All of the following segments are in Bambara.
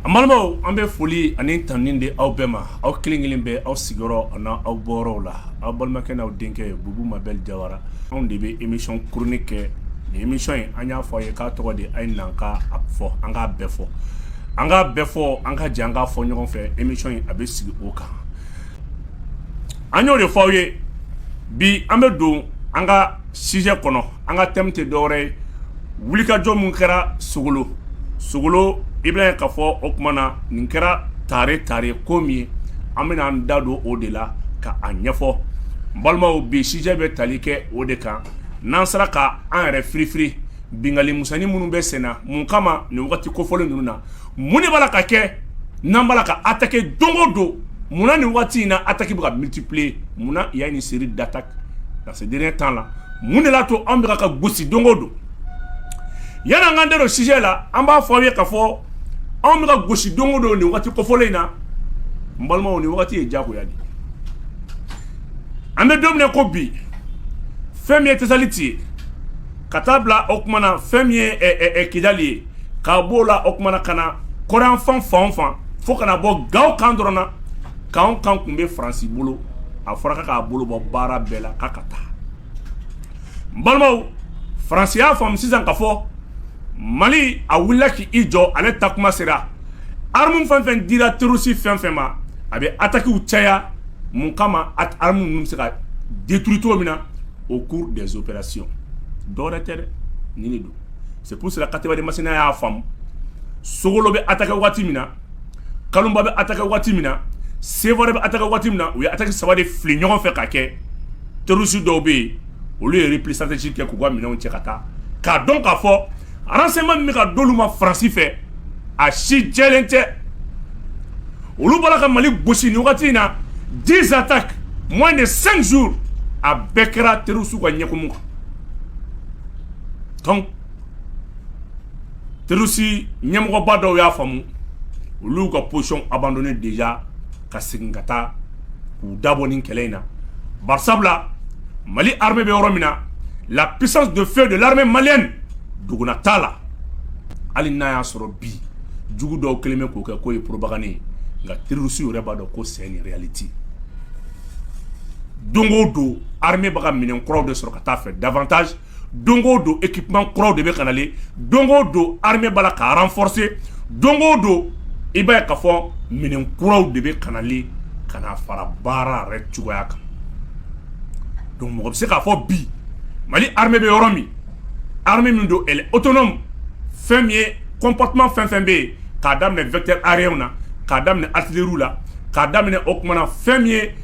An balimaw an bɛ foli ani tanuni di aw bɛɛ ma aw kelen kelen bɛɛ aw sigiyɔrɔ ani aw bɔyɔrɔw la aw balimakɛ n'aw denkɛ Bubu Mabɛl Jawara anw de bɛ émission chronique kɛ émission in an y'a fɔ aw ye k'a tɔgɔ de a ye na an k'a fɔ an k'a bɛɛ fɔ an k'a bɛɛ fɔ an ka jɛ an k'a fɔ ɲɔgɔn fɛ émission in a bɛ sigi o kan an y'o de fɔ aw ye bi an bɛ don an ka sijɛ kɔnɔ an ka thème tɛ dɔwɛrɛ ye wulikajɔ minnu kɛra Sogolo i bɛ ka fɔ o tuma na nin kɛra tare tare ko min ye an bɛna an da don o de la ka a ɲɛfɔ balimaw bi sijɛ bɛ tali kɛ o de kan n'an sera ka an yɛrɛ firifiri binkanni misɛnnin minnu bɛ sen na mun kama nin waati kofɔlen ninnu na mun de b'a la ka kɛ n'an b'a la ka attaquer don o don munna nin waati in na attaque bɛ ka multiplier munna il y a une série d'attaques dans ces derniers temps là mun de y'a to an bɛ ka gosi don o don yan an k'an da don sijɛ la an b'a fɔ aw ye ka fɔ anw bɛ ka gosi don o don nin waati kofɔlen in na n balimaw nin waati ye diyagoya de ye an bɛ don min na ko bi fɛn min ye Tesaliti ye ka taa bila o tuma na fɛn min ye Kidali ye k'a b'o la o tuma na ka na kɔrɔnyanfan fan o fan fo ka na bɔ Gawo kan dɔrɔn na k'anw kan tun bɛ Faransi bolo a fɔra k'a k'a bolo bɔ baara bɛɛ la k'a ka taa n balimaw Faransi y'a faamu sisan ka fɔ Mali a wulila k'i jɔ ale ta kuma sera arme fɛn fɛn dira terroriste fɛn fɛn ma a bɛ attaques caya mun kama arme ninnu bɛ se ka détruire cogo min na au cours des opérations dɔwɛrɛ tɛ dɛ nin de don c'est pour cela Katiba de Masina y'a faamu Sogolo bɛ attaquer waati min na Kalunba bɛ attaquer waati min na Sevare bɛ attaquer waati min na u ye attaque saba de fili ɲɔgɔn fɛ ka kɛ terroriste dɔw bɛ yen olu ye repli stratégique kɛ k'u ka minɛnw cɛ ka taa k'a dɔn k'a fɔ Renseignements min bɛ ka d'olu ma Faransi fɛ, a si jɛlen tɛ. Olu bɔra ka Mali gosi nin wagati in na 10 attaques moins de 5 jours a bɛɛ kɛra terroristes ka ɲɛkumu kan. Donc terroristes ɲɛmɔgɔba dɔw y'a faamu, olu y'u ka position abandonner déjà ka segin ka taa k'u dabɔ nin kɛlɛ in na barisabula Mali armée bɛ yɔrɔ min na la puissance de feu de l'armée malienne duguna t'a la hali n'a y'a sɔrɔ bi jugu dɔw kelen bɛ k'o kɛ k'o ye propagande ye nka terroriste yɛrɛ b'a dɔn ko c'est une réalité don o don armée bɛ ka minɛn kuraw de sɔrɔ ka taa fɛ davantage don o don équipement kuraw de bɛ ka nalen don o don armée b'a la ka renforcer don o don i b'a ye k'a fɔ minɛn kuraw de bɛ ka nalen ka na fara baara yɛrɛ cogoya kan donc mɔgɔ bɛ se k'a fɔ bi mali armée bɛ yɔrɔ min armée min don elle est autonome fɛn min ye comportement fɛn fɛn bɛ yen k'a daminɛ vecteur aérienw na k'a daminɛ artillerie la k'a daminɛ o tuma na fɛn min ye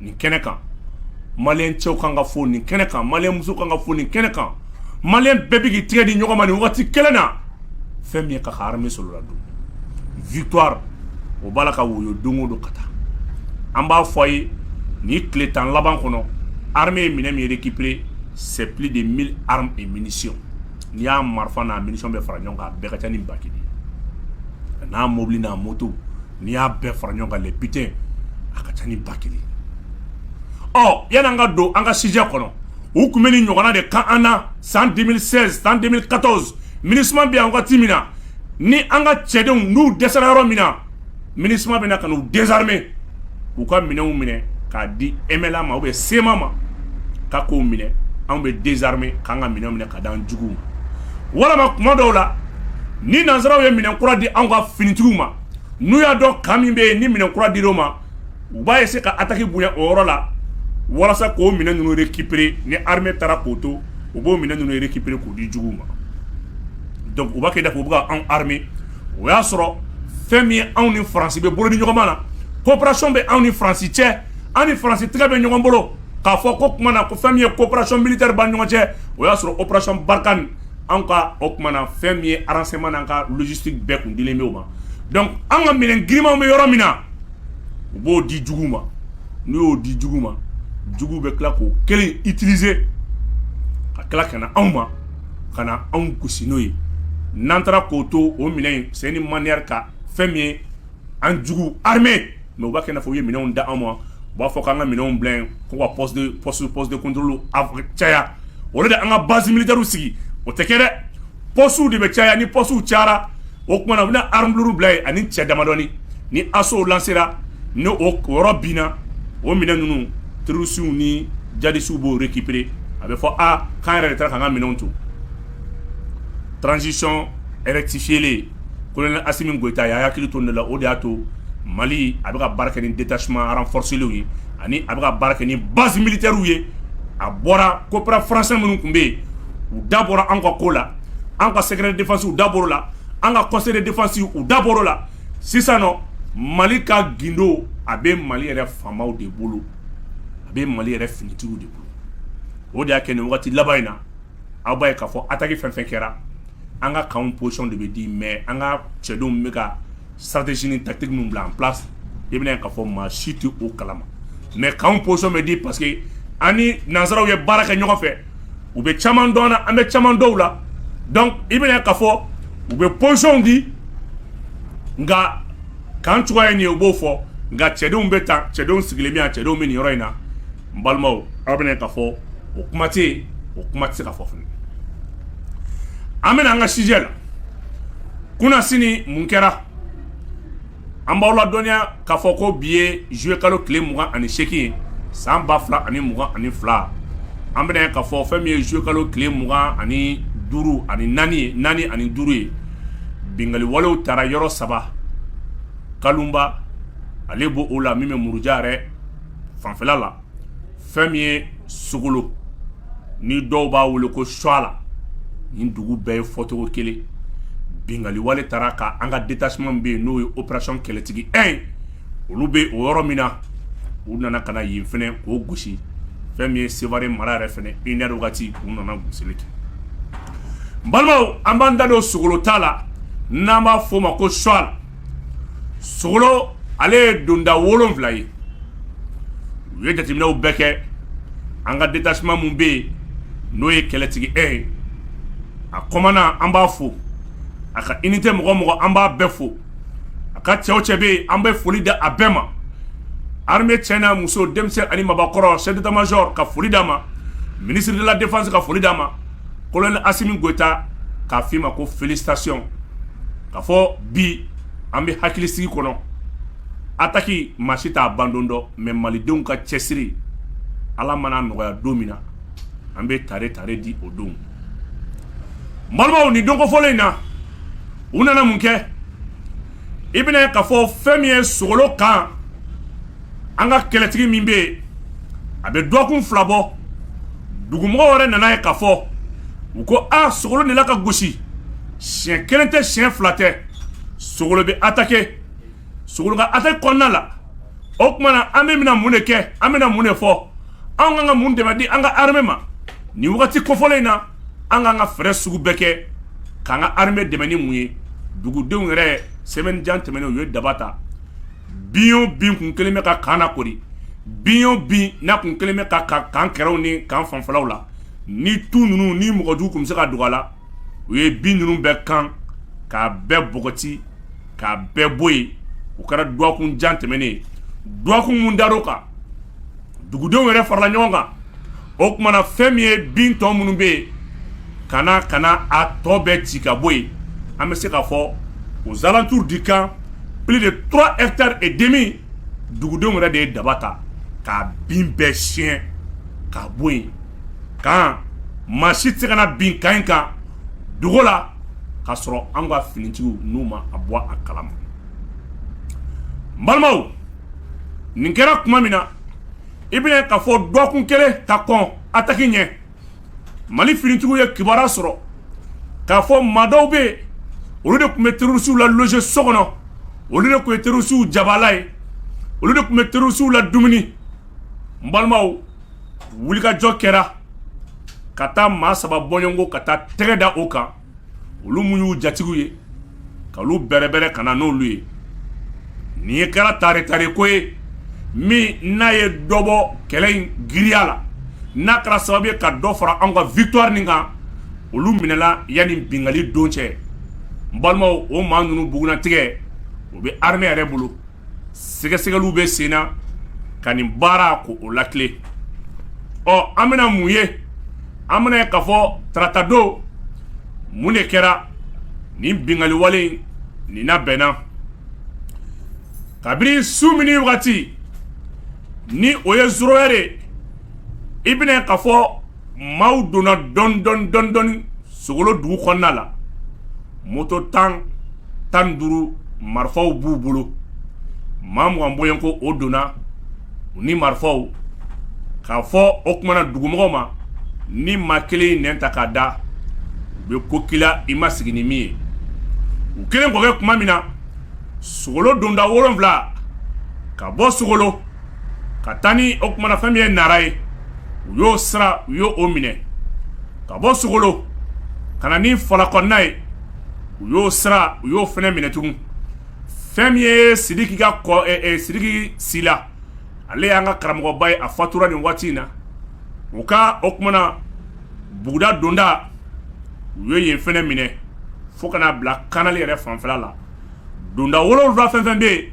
nin kɛnɛ kan maliyɛn cɛw kan ka fo nin kɛnɛ kan maliyɛn muso kan ka fo nin kɛnɛ kan maliyɛn bɛɛ bɛ k'i tigɛ di ɲɔgɔn ma nin waati kelen na fɛn min ye ka armée min sɔrɔla donc victoire o b'a la ka woyo don o don ka taa an b'a fɔ a ye nin tile tan laban kɔnɔ armée ye minɛn min récupérer c'est plus de mille armes et munitions n'i y'a marifa n'a munition bɛɛ fara ɲɔgɔn kan a bɛɛ ka ca ni ba kelen ye n'a mobili n'a moto n'i y'a bɛɛ fara ɲɔgɔn kan butin a ka ca ni ba kelen ye yanni an ka don an ka sijɛ kɔnɔ u tun bɛ nin ɲɔgɔnna de kɛ an na san deux mille seize san deux mille quatorze MINUSMA bɛ yan wagati min na ni an ka cɛdenw n'u dɛsɛra yɔrɔ min na MINUSMA bɛ na ka u désarmer k'u ka minɛnw minɛ k'a di MNLA ma ou bien CMA ma ka k'o minɛ anw bɛ désarmer k'an ka minɛnw minɛ k'a di an juguw ma walima tuma dɔw la ni nansaraw ye minɛn kura di an ka finitigiw ma N'u y'a dɔn camp min bɛ yen ni minɛn kura dir'o ma u b'a essayer ka attaque bonya o yɔrɔ la walasa k'o minɛn ninnu récupérer ni armée taara k'o to u b'o minɛn ninnu récupérer k'u di jugu ma donc u b'a kɛ i n'a fɔ u bɛ ka anw armer o y'a sɔrɔ fɛn min ye anw ni faransi bɛ bolo di ɲɔgɔn ma na coopération bɛ anw ni faransi cɛ anw ni faransi tɛgɛ bɛ ɲɔgɔn bolo k'a fɔ k'o tuma na ko fɛn min ye coopération militaire b'an ɲɔgɔn cɛ o y'a sɔrɔ opération Barkhane anw ka o tuma na fɛn min ye renseignement n'an ka logistique bɛɛ kun dilen bɛ o ma donc an ka minɛn girinmanw bɛ yɔrɔ min na u b'o di jugu ma n'u y'o di jugu ma jugu bɛ tila k'o kelen utiliser ka tila ka na anw ma ka na anw gosi n'o ye n'an taara k'o to o minɛn c'est une manière ka fɛn min ye an jugu armer mais u b'a kɛ i n'a fɔ u ye minɛnw da anw ma u b'a fɔ k'an ka minɛnw bila ko ka poste de contrôle caya au lieu de an ka base militairew sigi o tɛ kɛ dɛ postew de bɛ caya ni postew cayara o tuma na u bɛna arme lourde bila yen ani cɛ damadɔni ni assaut lancera ni o yɔrɔ binna o minɛn ninnu terroristew ni djihadistew b'o récupérer a bɛ fɔ aa k'an yɛrɛ de taara k'an ka minɛnw to transition rectifiélen Colonel Assimi Goïta y'a hakili to nin la o de y'a to mali a bɛ ka baara kɛ ni détachement renforcélenw ye ani a bɛ ka baara kɛ ni base militairew ye a bɔra coopérant français minnu tun bɛ yen u da bɔra an ka ko la an ka secret de défense u da bɔr'o la an ka conseil de défense u da bɔr'o la sisan nɔ mali ka gundo a bɛ mali yɛrɛ FAMaw de bolo a bɛ mali yɛrɛ finitigiw de bolo o de y'a kɛ nin waati laban in na aw b'a ye k'a fɔ attaque fɛn fɛn kɛra an ka camp position de bɛ di mais an ka cɛdenw bɛ ka stratégie ni tactique minnu bila en place i bɛna ye k'a fɔ maa si tɛ o kalama mais camp position bɛ di parce que an ni nanzaraw ye baara kɛ ɲɔgɔn fɛ u bɛ caman dɔn an na an bɛ caman dɔn u la donc i bɛna ye k'a fɔ u bɛ position di nka camp cogoya ye nin ye u b'o fɔ nka cɛdenw bɛ tan cɛdenw sigilen min cɛdenw bɛ nin yɔrɔ in na n balimaw aw bɛna ye k'a fɔ o kuma tɛ yen o kuma tɛ se ka fɔ fana an bɛna an ka sujet la kunnasini mun kɛra an b'aw ladɔnniya k'a fɔ ko bi ye juillet kalo tile mugan ani seegin ye san ba fila ani mugan ani fila an bɛna ye k'a fɔ fɛn min ye juillet kalo tile mugan ani duuru ani naani ani duuru ye binkaliwalew taara yɔrɔ saba Kalumba ale b'o la min bɛ Muruja yɛrɛ fanfɛla la fɛn min ye Sogolo ni dɔw b'a wele ko Suwala nin dugu bɛɛ ye fɔcogo kelen binkaliwale taara ka an ka détachement min bɛ yen n'o ye opération kɛlɛtigi 1 ye olu bɛ o yɔrɔ min na u nana ka na yen fɛnɛ k'o gosi fɛn min ye Sevare mara yɛrɛ fɛnɛ une heure wagati u nana gosili kɛ n balimaw an b'an da don Sogolo ta la n'an b'a fɔ o ma ko Suwa Sogolo ale ye donda 7 ye u ye jateminɛw bɛɛ kɛ an ka détachement min bɛ yen n'o ye kɛlɛtigi 1 ye a commandant an b'a fo a ka unité mɔgɔ o mɔgɔ an b'a bɛɛ fo a ka cɛ o cɛ bɛ yen an bɛ foli di a bɛɛ ma armée cɛ n'a muso denmisɛn ani mabakɔrɔ chef d'état major ka foli d'a ma ministre de la défense ka foli d'a ma colonel Asimi Goyita k'a f'i ma ko félicitations k'a fɔ bi an bɛ hakilisigi kɔnɔ attaque maa si t'a bandon dɔn mais malidenw ka cɛsiri ala mana nɔgɔya don min na an bɛ tare tare di o don balimaw nin don kofɔlen in na u nana mun kɛ i bɛna ye k'a fɔ fɛn min ye Sogolo kan an ka kɛlɛtigi min bɛ yen a bɛ dɔgɔkun fila bɔ dugumɔgɔw yɛrɛ nana ye k'a fɔ u ko a Sogolo de la ka gosi siɲɛ kelen tɛ siɲɛ fila tɛ Sogolo bɛ attaquer Sogolo ka attaque kɔnɔna la o tuma na an bɛ bɛna mun de kɛ an bɛna mun de fɔ anw kan ka mun dɛmɛ di an ka armée ma nin wagati kofɔlen in na an k'an ka fɛɛrɛ sugu bɛɛ kɛ k'an ka armée dɛmɛ ni mun ye dugudenw yɛrɛ semaine jan tɛmɛnen u ye daba ta Bin o bin kun kɛlen bɛ ka camp lakoori bin o bin n'a kun kɛlen bɛ ka ka camp kɛrɛw ni camp fanfɛlaw la ni tu ninnu ni mɔgɔjugu kun bɛ se ka dogo a la u ye bin ninnu bɛɛ kan k'a bɛɛ bɔgɔti k'a bɛɛ bɔ yen o kɛra dɔgɔkun jan tɛmɛnen ye dɔgɔkun min dar'o kan dugudenw yɛrɛ farala ɲɔgɔn kan o tumana fɛn min ye bin tɔ minnu bɛ yen ka na ka na a tɔ bɛɛ ci ka bɔ yen an bɛ se k'a fɔ aux alentours du camp plus de trois hectares et demi dugudenw yɛrɛ de ye daba ta ka bin bɛɛ siɲɛ ka bɔ yen kan maa si tɛ se ka na bin camp in kan dogo la k'a sɔrɔ an ka finitigiw n'u ma a bɔ a kalama balimaw nin kɛra tuma min na i bɛna k'a fɔ dɔgɔkun kelen ka kɔn attaque ɲɛ mali finitigiw ye kibaruya sɔrɔ k'a fɔ maa dɔw bɛ yen olu de tun bɛ terɔrisiw la loger so kɔnɔ olu de tun ye terɔrisiw jabala ye olu de tun bɛ terɔrisiw ladumuni n balimaw wulikajɔ kɛra ka taa maa saba bɔɲɔgɔnko ka taa tɛgɛ da o kan olu minnu y'u jatigiw ye k'olu bɛrɛbɛrɛ ka na n'olu ye nin ye kɛra taretare ko ye min n'a ye dɔ bɔ kɛlɛ in giriya la n'a kɛra sababu ye ka dɔ fara an ka victoire nin kan olu minɛla yanni bingali don cɛ balimaw o maa ninnu bugunatigɛ o bɛ armée yɛrɛ bolo sɛgɛsɛgɛliw bɛ sen na ka nin baara ko o latilen ɔ an bɛna mun ye an bɛna ye k'a fɔ taratadon mun de kɛra nin binkaliwale nin nabɛnna kabini su minuit wagati ni o ye zéro heure i bɛna ye k'a fɔ maaw donna dɔɔni dɔɔni dɔɔni dɔɔni sogolo dugu kɔnɔna la moto tan tan duuru marifaw b'u bolo maa mugan bɔɲɔgɔnko o donna u ni marifaw k'a fɔ o tumana na dugumɔgɔw ma ni maa kelen nɛn ta k'a da u bɛ ko kila i ma sigi ni min ye u kelen k'o kɛ tuma min na sogolo donda wolonwula ka bɔ sogolo ka taa ni o tumana fɛn min ye nara ye u y'o sira u y'o minɛ ka bɔ sogolo ka na ni fala kɔnɔna ye u y'o sira u y'o fɛnɛ minɛ tugun fɛn min ye sidiki ka kɔ eh, eh, sidiki sila ale y'an ka karamɔgɔba ye a fatura nin waati in na u ka o tumana buguda donda u ye yen fɛnɛ minɛ fo ka n'a bila kanali yɛrɛ fanfɛla la donda wolonwula fɛn fɛn bɛ yen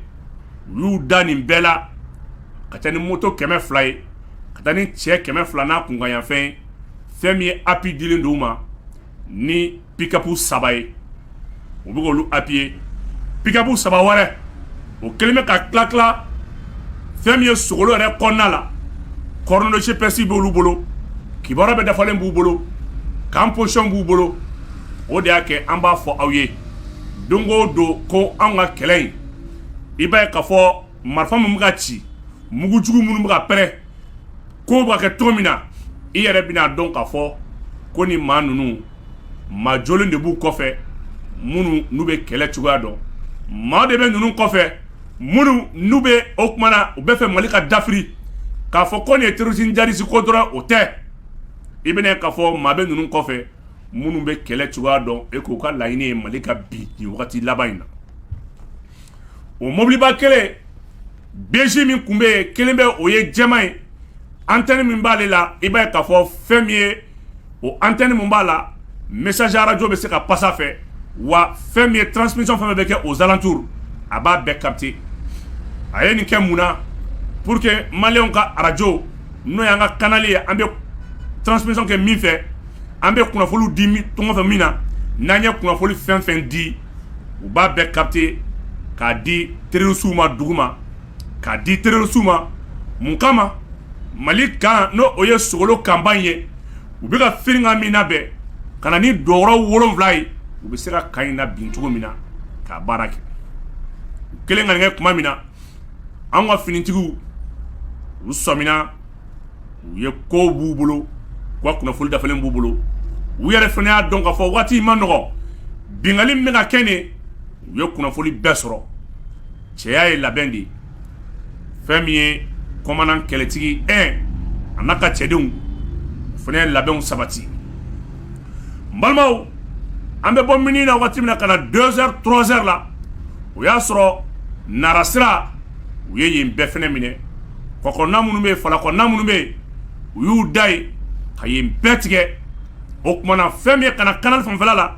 u y'u da nin bɛɛ la ka taa ni moto kɛmɛ fila ye ka taa ni cɛ kɛmɛ fila n'a kunkanyanfɛn fɛn min ye appui dilen don u ma ni pikapu saba ye u bɛ k'olu appuyer pikapu saba wɛrɛ o kɛlen bɛ ka tila tila fɛn min ye sogolo yɛrɛ kɔnɔna la coordonnées GPS b'olu bolo kibaruya bɛɛ dafalen b'u bolo camp position b'u bolo o de y'a kɛ an b'a fɔ aw ye don o don ko anw ka kɛlɛ in i b'a ye k'a fɔ marifa min bɛ ka ci mugujugu minnu bɛ ka pɛrɛn ko bɛ ka kɛ cogo min na i yɛrɛ bɛna dɔn k'a fɔ ko ni maa ninnu maa jɔlen de b'u kɔfɛ minnu n'u bɛ kɛlɛ cogoya dɔn maa de bɛ ninnu kɔfɛ minnu n'u bɛ o kuma na u bɛ fɛ mali ka dafiri k'a fɔ ko nin ye terroriste djihadiste ko dɔrɔn o tɛ i bɛna ye k'a fɔ maa bɛ ninnu kɔfɛ minnu bɛ kɛlɛ cogoya dɔn et k'u ka laɲini ye mali ka bin nin wagati laban in na o mobiliba kelen BJ min tun bɛ yen kelen bɛ o ye jɛman ye antenne min b'ale la i b'a ye k'a fɔ fɛn min ye o antenne min b'a la message radio bɛ se ka pasa fɛ wa fɛn min ye transmission fɛn bɛ kɛ aux alentours a b'a bɛɛ capter a ye nin kɛ mun na pour que maliyɛnw ka arajo n'o y'an ka kanali ye an bɛ transmission kɛ min fɛ an bɛ kunnafoniw di tɔgɔfɛ min na n'an ye kunnafoni fɛn fɛn di u b'a bɛɛ capter k'a di terroristew ma duguma k'a di terroristew ma mun kama mali kan n'o ye sogolo kanba ye u bɛ ka firikan min labɛn ka na ni dɔgɔ wolonwula ye u bɛ se ka kan in labin cogo min na k'a baara kɛ u kelen ka nin kɛ tuma min na an ka finitigiw u sɔmina u ye ko b'u bolo ka kunnafoni dafalen b'u bolo u yɛrɛ fana y'a dɔn k'a fɔ waati ma nɔgɔ bingali bɛ ka kɛ de u ye kunnafoni bɛɛ sɔrɔ cɛya ye labɛn de ye fɛn min ye kɔmandan kɛlɛtigi e a n'a ka cɛdenw fana ye labɛnw sabati n balimaw an bɛ bɔ mini na waati min na ka na deux heures trois heures la o y'a sɔrɔ nara sira u ye yen bɛɛ fana minɛ kɔ kɔnɔna minnu bɛ yen fala kɔnɔna minnu bɛ yen u y'u da yen ka yen bɛɛ tigɛ o kuma na fɛn min ye ka na kanali fanfɛla la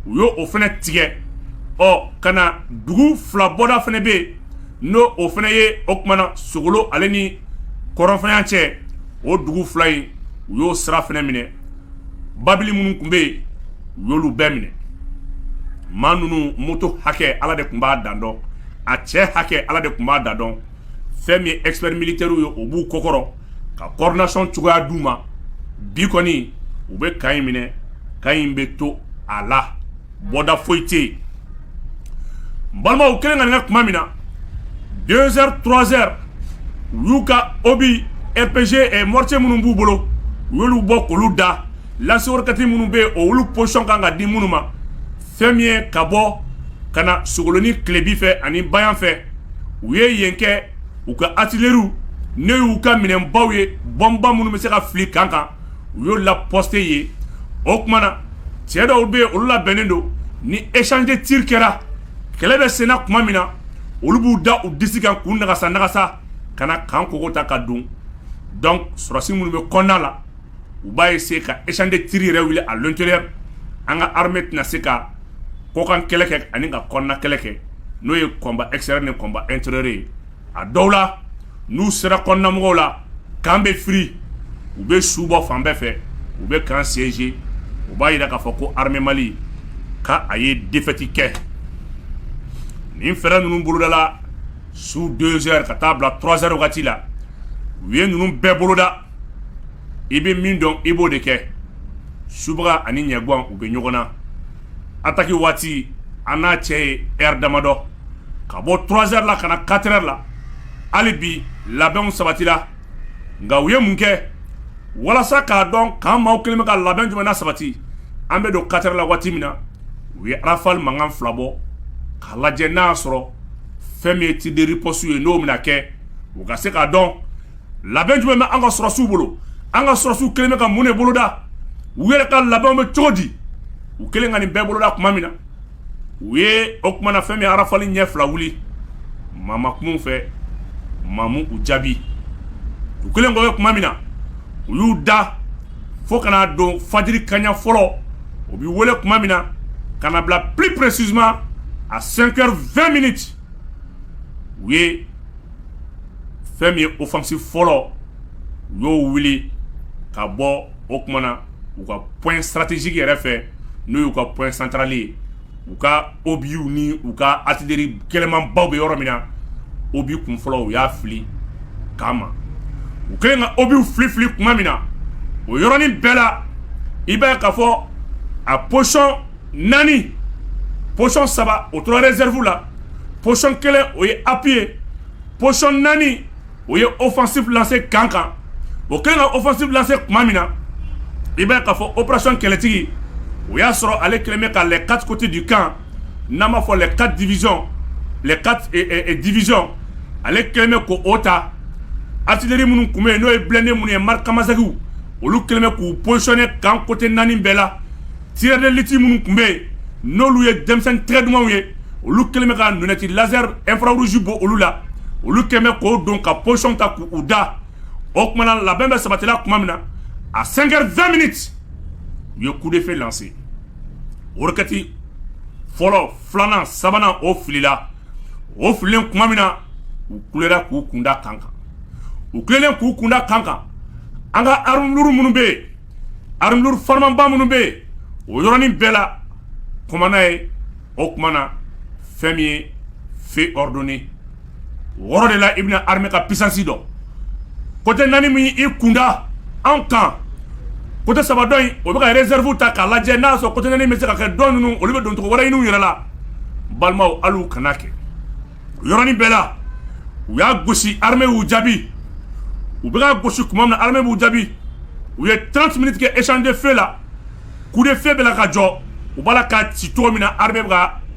u y'o fana tigɛ ɔ ka na dugu fila bɔda fana bɛ yen n'o o fana ye o kuma na sogolo ale ni kɔrɔnfɛnya cɛ o dugu fila in u y'o sira fana minɛ babili minnu tun bɛ yen u y'olu bɛɛ minɛ maa ninnu moto hakɛ ala de tun b'a dan dɔn a cɛ hakɛ ala de tun b'a dan dɔn fɛn min ye expert militaire ye o b'u kɔkɔrɔ ka coordination cogoya d'u ma bi kɔni u bɛ kan in minɛ kan in bɛ to a la bɔda foyi tɛ yen n balimaw u kelen ka nin kɛ tuma min na deux heures trois heures u y'u ka obus RPG mortier minnu b'u bolo u y'olu bɔ k'olu da lance-roquette minnu bɛ yen olu position kan ka di minnu ma fɛn min ye ka bɔ ka na sogoloni tilebi fɛ ani ba yan fɛ u ye yen kɛ u ka artillerie ne y'u ka minɛnbaw ye bɔnba minnu bɛ se ka fili kan kan u y'o la poste ye o tuma na cɛ dɔw bɛ yen olu labɛnnen don ni échange tir kɛra kɛlɛ bɛ senna tuma min na olu b'u da u disi kan k'u nagasa nagasa ka na camp kogo ta ka don donc sɔrɔsi minnu bɛ kɔnɔna la u b'a essayer ka échange tir yɛrɛ wuli à l'intérieur an ka armée tɛna se ka kɔkan kɛlɛ kɛ ani ka kɔnɔna kɛlɛ kɛ n'o ye combat extérieur ni combat intérieur ye a dɔw la n'u sera kɔnɔnamɔgɔw la camp bɛ firi u bɛ su bɔ fan bɛɛ fɛ u bɛ camp siéger u b'a jira k'a fɔ ko armée Mali k'a ye défaite kɛ nin fɛɛrɛ ninnu bolodala su 2 heures ka taa bila 3 heures wagati la u ye ninnu bɛɛ boloda i bɛ min dɔn i b'o de kɛ subaga ani ɲɛgwan u bɛ ɲɔgɔn na attaque waati an n'a cɛ ye heure damadɔ ka bɔ 3 heures la ka na 4 heures la hali bi labɛnw sabatira nka u ye mun kɛ walasa k'a dɔn k'an maaw kelen bɛ ka labɛn jumɛn na sabati an bɛ don 4 heures la waati min na u ye rafale mankan fila bɔ k'a lajɛ n'a y'a sɔrɔ fɛn min ye tir de riposte ye n'o bɛna kɛ u ka se k'a dɔn labɛn jumɛn bɛ an ka sɔrɔsiw bolo an ka sɔrɔsiw kelen bɛ ka mun de boloda u yɛrɛ ka labɛnw bɛ cogo di u kelen ka nin bɛɛ boloda tuma min na u ye o tuma na fɛn min rafale ɲɛ fila wuli maa ma kum'u fɛ maa m'u jaabi u kelen k'o kɛ tuma min na u y'u da fo ka na don fajiri kaɲa fɔlɔ o bɛ wele tuma min na ka na bila plus précisément à 5h20 minutes u ye fɛn min ye offensive fɔlɔ u y'o wuli ka bɔ o kuma na u ka point stratégique yɛrɛ fɛ n'o y'u ka point central ye u ka obiw ni u ka artillerie gɛlɛmanbaw bɛ yɔrɔ min na obi kun fɔlɔ u y'a fili k'a ma u kɛlen ka obiw fili fili tuma min na o yɔrɔnin bɛɛ la i b'a ye k'a fɔ a position naani psɔn saba o tora zerifu la psɔn kelen o ye api ye psɔn naani o ye ofasi lase kan kan o kɛlen ka ofasi lase tuma min na i bɛ ka fɔ ourasɔnon kɛlɛtigi o y'a sɔrɔ ale kɛlen bɛ ka lɛ kati di kan n'a b'a fɔ lɛ ka diz diz ale kɛlen bɛ ko o ta ateri minnu tun bɛ yen n'o ye bilannen minnu ye mariri kamamasa olu kɛlen bɛ k'u psɔnɛ kan kote naani bɛɛ la Tireurs d'élite minnu tun bɛ yen n'olu ye denmisɛn tɛgɛ dumanw ye olu kɛlen bɛ ka lunette laser infrarouge bɔ olu la olu kɛlen bɛ k'o don ka position ta k'u da o tuma na labɛn bɛɛ sabatila tuma min na à cinq heures vingt minutes u ye coup de feu lancer roquette fɔlɔ filanan sabanan o filila o fililen tuma min na u kulela k'u kunda camp kan u kulelen k'u kunda camp kan an ka armes lourdes minnu bɛ yen Armes lourdes farimanba minnu bɛ yen, o yɔrɔnin bɛɛ la, commandant ye o tuma na fɛn min ye feu ordonner o yɔrɔ de la i bɛna armée ka puissance dɔn. Côté 4 min y'i kun da anw kan, côté 3 dɔ in o bɛ ka réserve ta k'a lajɛ n'a y'a sɔrɔ côté 4 in bɛ se ka kɛ dɔ ninnu olu bɛ don cogo wɛrɛ ɲini u yɛrɛ la, balimaw hali u kana kɛ. yɔrɔin bɛɛ la u y'a gosi ha y'u jaabi u bɛ gosi tuma min na b'u jaabi u ye tan tun tigɛ ecde fɛn la ku de fɛn bɛ ka jɔ u b'a la ka ci cogo min na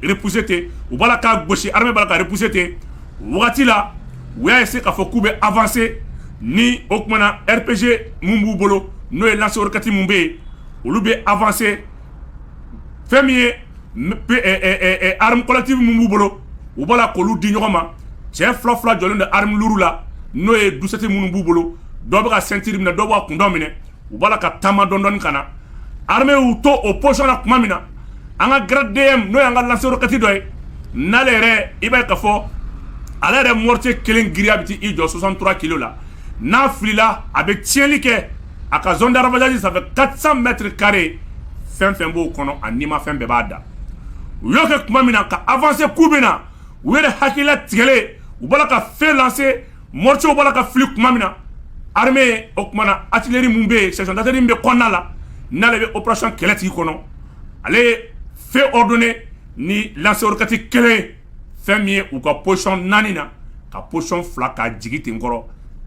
bɛpse ten u b'a ka gosi karepse ten wagati la u y'a ye se k'a fɔ k'u bɛ afase ni o tumaumana na rpzse minnu b'u bolo n'o ye laseolikati minnu bɛ yen olu bɛ afase fɛn min ye armes collectives min b'u bolo u b'a la k'olu di ɲɔgɔn ma cɛ fila fila jɔlen don armes lourdes la n'o ye 12,7 minnu b'u bolo dɔ bɛ ka ceinture minɛ dɔ bɛ ka kun dɔ minɛ u b'a la ka taama dɔɔni dɔɔni ka na armée y'u to o position na tuma min na an ka Grad DM n'o y'an ka lance-roquette dɔ ye n'ale yɛrɛ i b'a ye k'a fɔ ale yɛrɛ mortier kelen giriya bɛ t'i jɔ 63 kilos la n'a filila a bɛ tiɲɛli kɛ a ka zone de ravagage ça fait 400 mètres carrés fɛn fɛn b'o kɔnɔ a nima fɛn bɛɛ b'a da u y'o kɛ tuma min na ka avancer k'u bɛ na u yɛrɛ hakilila tigɛlen u b'a la ka feu lancer mortier b'a la ka fili tuma min na armée o tuma na artillerie mun bɛ yen section d'artillerie min bɛ kɔnɔna la n'ale bɛ opération kɛlɛ tigi kɔnɔ ale ye feu ordonner ni lance-roquette kelen ye fɛn min ye u ka position naani na ka position fila ka jigi ten kɔrɔ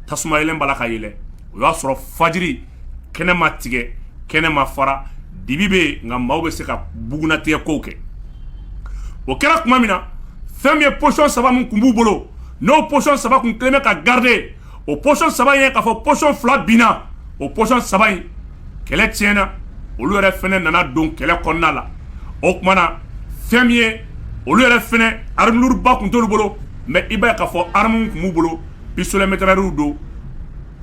tasuma yeelen b'a la ka yɛlɛ o y'a sɔrɔ fajiri kɛnɛ ma tigɛ kɛnɛ ma fara dibi bɛ yen nka maaw bɛ se ka bugunatigɛ kow kɛ o kɛra tuma min na fɛn min ye position saba min tun b'u bolo n'o position saba tun kɛlen bɛ ka garder o position saba ye k'a fɔ position fila binna o position saba in kɛlɛ tiɲɛna olu yɛrɛ fana nana don kɛlɛ kɔnɔna la o tuma na fɛn min ye olu yɛrɛ fana arme lourde ba tun t'olu bolo mais i b'a ye k'a fɔ arme mun tun b'u bolo pistolet-mitrailleurw don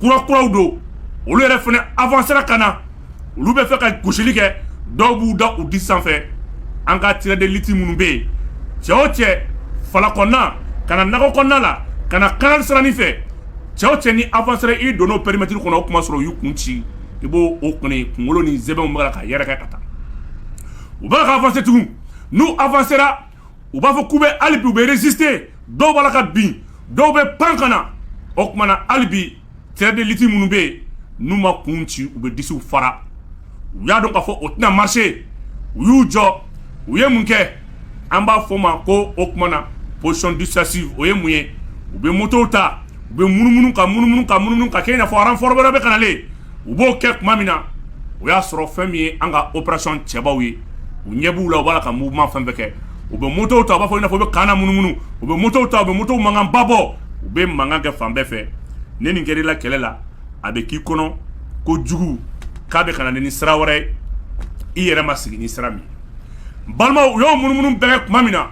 kura kuraw don olu yɛrɛ fana avancera ka na olu bɛ fɛ ka gosili kɛ dɔw b'u da u disi sanfɛ an ka tirɛdeliti minnu bɛ yen cɛ o cɛ fala kɔnɔna ka na nakɔ kɔnɔna la ka na kanali sirani fɛ cɛ o cɛ n'i avansera i donna o pɛrimɛtiri kɔnɔ o kuma sɔrɔ u y'u kun ci i b'o o kɔni kunkolo ni sɛmɛw b'a la ka yɛrɛkɛ ka taa u b'a la ka avanse tugun n'u avansera u b'a fɔ k'u bɛ hali bi u bɛ reziste dɔw b'a la ka bin dɔw bɛ pan ka na o kuma na hali bi Tirɛdeliti minnu bɛ yen n'u ma kun ci u bɛ disiw fara u y'a dɔn k'a fɔ o tɛna marise u y'u jɔ u ye mun kɛ an b'a fɔ o ma ko o kuma na pozisɔn disuwazivu o ye mun ye u bɛ motow ta u bɛ munumunu ka munumunu ka munumunu k'a kɛ i n'a fɔ ranfɔri wɛrɛ bɛ ka na le u b'o kɛ tuma min na o y'a sɔrɔ fɛn min ye an ka operasɔn cɛbaw ye u ɲɛ b'u la u b'a la ka muvuman fɛn bɛɛ kɛ u bɛ motow ta u b'a fɔ u bɛ ka na munumunu u bɛ motow ta u bɛ moto mankanba bɔ u bɛ mankan kɛ fan bɛɛ fɛ ni nin kɛra i la kɛlɛ la a bɛ k'i kɔnɔ ko jugu k'a bɛ ka na ni sira wɛrɛ ye i yɛrɛ ma sigi ni sira min n balimaw u y'o munumunu bɛɛ kɛ tuma min na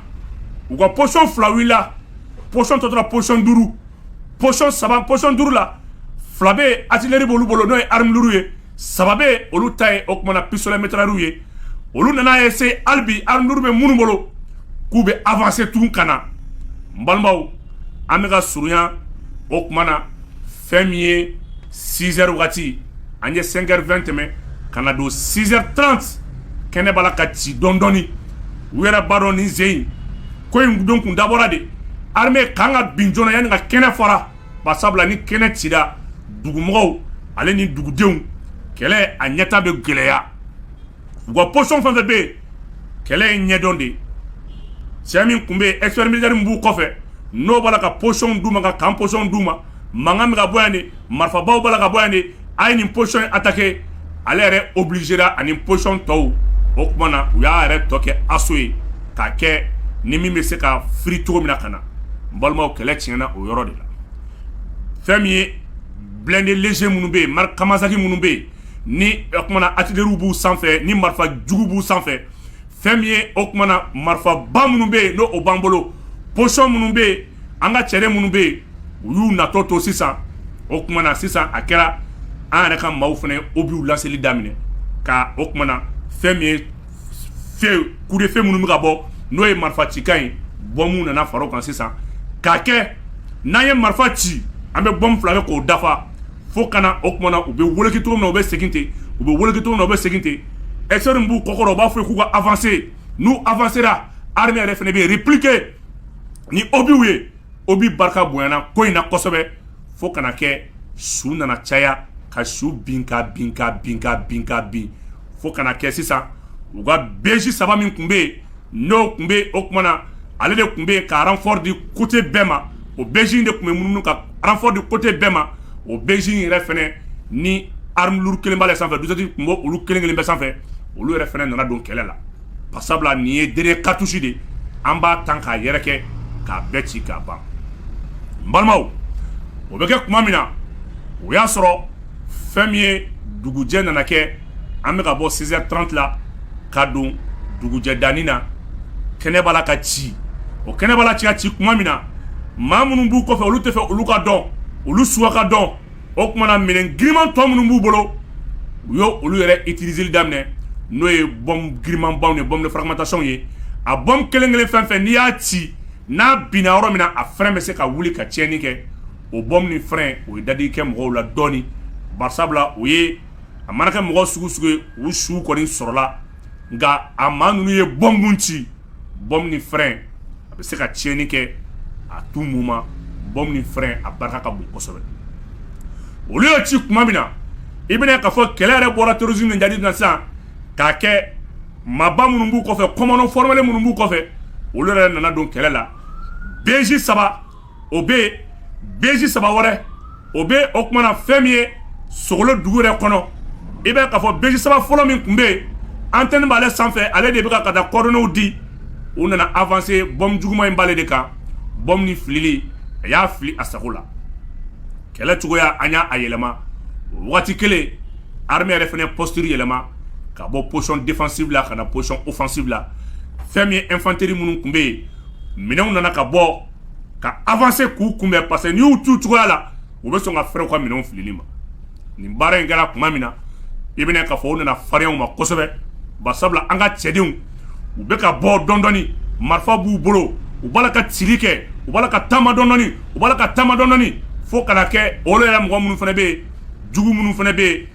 u ka pozisɔn fila wulila pozisɔn tɔ tora pozisɔn duuru pozisɔn saba pozisɔn duuru la fila bɛ atileri b'olu bolo n'o ye arimu luru ye saba bɛ olu ta ye o kuma na pisitole metirayɛriw ye olu nana eseye hali bi arimu luru bɛ minnu bolo k'u bɛ avanse tugun ka na n balimaw an bɛ ka surunya o kuma na fɛn min ye sizɛri wagati an ye sɛnkɛri vɛn tɛmɛ ka na don sizɛri taranti kɛnɛ b'a la ka ci dɔɔni dɔɔni u yɛrɛ b'a dɔn nin sen in ko in don tun dabɔra de arime ka kan ka bin joona yanni ka kɛnɛ fara ba sabula ni kɛnɛ cira dugumɔgɔw ale ni dugudenw kɛlɛ a ɲɛta bɛ gɛlɛya u ka pozisɔn fɛn fɛn bɛ yen kɛlɛ ye ɲɛdɔn de ye cɛ min tun bɛ yen ɛkisipɛri militɛri min b'u kɔfɛ n'o b'a la ka pozisɔnw d'u ma ka kan pozisɔnw d'u ma mankan bɛ ka bɔ yan de marifabaw b'a la ka bɔ yan de A ye nin pozisɔn in atake ale yɛrɛ obilizera ani pozisɔn tɔw o tuma na u y'a yɛrɛ tɔ kɛ aso ye k'a kɛ ni min bɛ se ka firi cogo min na ka na n balimaw kɛlɛ tiɲɛna o yɔrɔ de la fɛn min ye bilɛnde leze minnu bɛ yen mariki Kawasaki minnu bɛ yen ni o kuma na atileriw b'u sanfɛ ni marifa jugu b'u sanfɛ fɛn min ye o kuma na marifaba minnu bɛ yen n'o b'an bolo pozisɔn minnu bɛ yen an ka cɛden minnu bɛ yen u y'u natɔ to sisan o kuma na sisan a kɛra an yɛrɛ ka maaw fana obiw lanseli daminɛ ka o kuma na fɛn min ye kudefe minnu bɛ ka bɔ n'o ye marifa cikan ye bɔnbuw nana fara o kan sisan k'a kɛ n'an ye marifa ci an bɛ bɔnbu fila kɛ k'o dafa fo ka na o kuma na u bɛ woloki cogo min na u bɛ segin ten u bɛ woloki cogo min na u bɛ segin ten ɛkisipɛri b'u kɔkɔrɔ u b'a fɔ k'u ka avanse n'u avansera arime yɛrɛ fana bɛ repilike ni obiw ye obi barika bonyana ko in na kosɛbɛ fo ka na kɛ su nana caya ka su bin ka bin ka bin ka bin ka bin fo ka na kɛ sisan u ka beji saba min tun bɛ yen n'o tun bɛ o tuma na ale de tun bɛ yen ka ranfɔri di kote bɛɛ ma o beji in de tun bɛ munumunu ka ranfɔri di kote bɛɛ ma o beji in yɛrɛ fana ni arme lourde kelen b'ale sanfɛ dusɛti tun b'olu kelen kelen bɛɛ sanfɛ olu yɛrɛ fana nana don kɛlɛ la Ba sabula nin ye dernier cartouche de an b'a tan k'a yɛrɛkɛ k'a bɛɛ ci k'a ban n balimaw o bɛ kɛ tuma min na o y'a sɔrɔ fɛn min ye dugujɛ nana kɛ an bɛ ka bɔ six heures trente la ka don dugujɛ dani na kɛnɛ b'a la ka ci o kɛnɛ b'a la ka ci tuma min na maa minnu b'u kɔfɛ olu tɛ fɛ olu ka dɔn olu suw ka dɔn o tuma na minɛn giriman tɔ minnu b'u bolo u y' olu yɛrɛ utiliser daminɛ n'o ye bombe girimanbaw ni bombe de fragmentation ye a bombe kelen kelen fɛn fɛn n'i y'a ci n'a binna yɔrɔ min na a fɛrɛn bɛ se ka wuli ka tiɲɛni kɛ o bombe ni fɛrɛn o ye dadigi kɛ mɔgɔw la dɔɔnini barisabula o ye a mana kɛ mɔgɔ sugu sugu ye u su kɔni sɔrɔla nka a maa ninnu ye bombe min ci bombe ni fɛrɛn a bɛ se ka tiɲɛni kɛ à tout moment bombe ni fɛrɛn a barika ka bon kosɛbɛ olu y'o ci tuma min na i bɛna k'a fɔ kɛlɛ yɛrɛ bɔra terrorisme ni jihadi na sisan k'a kɛ maaba minnu b'u kɔfɛ komando fɔrimelen minnu b'u kɔfɛ olu yɛrɛ nana don kɛlɛ la beji saba o bɛ yen beji saba wɛrɛ o bɛ o tuma na fɛn min ye Sogolo dugu yɛrɛ kɔnɔ i bɛ k'a fɔ beji saba fɔlɔ min tun bɛ yen antɛni b'ale sanfɛ ale de bɛ ka ka taa coordonnées di u nana avancer bombe juguman in b'ale de kan bombe ni filili a y'a fili a sago la kɛlɛ cogoya an y'a yɛlɛma o waati kelen armée yɛrɛ fana posture yɛlɛma ka bɔ position défensive la ka na position offensive la fɛn min ye infanterie minnu tun bɛ yen minɛnw nana ka bɔ ka avancer k'u kunbɛn parce que n'i y'u to cogoya la u bɛ sɔn ka fɛrɛ u ka minɛnw filili ma nin baara in kɛra tuma min na i bɛna k'a fɔ u nana farinya u ma kosɛbɛ ba sabula an ka cɛdenw u bɛ ka bɔ dɔɔni dɔɔni marifa b'u bolo u b'a la ka cili kɛ u b'a la ka taama dɔɔni dɔɔni u b'a la ka taama dɔɔni dɔɔni fo ka na kɛ olu yɛrɛ mɔgɔ minnu fana bɛ yen jugu minnu fana bɛ yen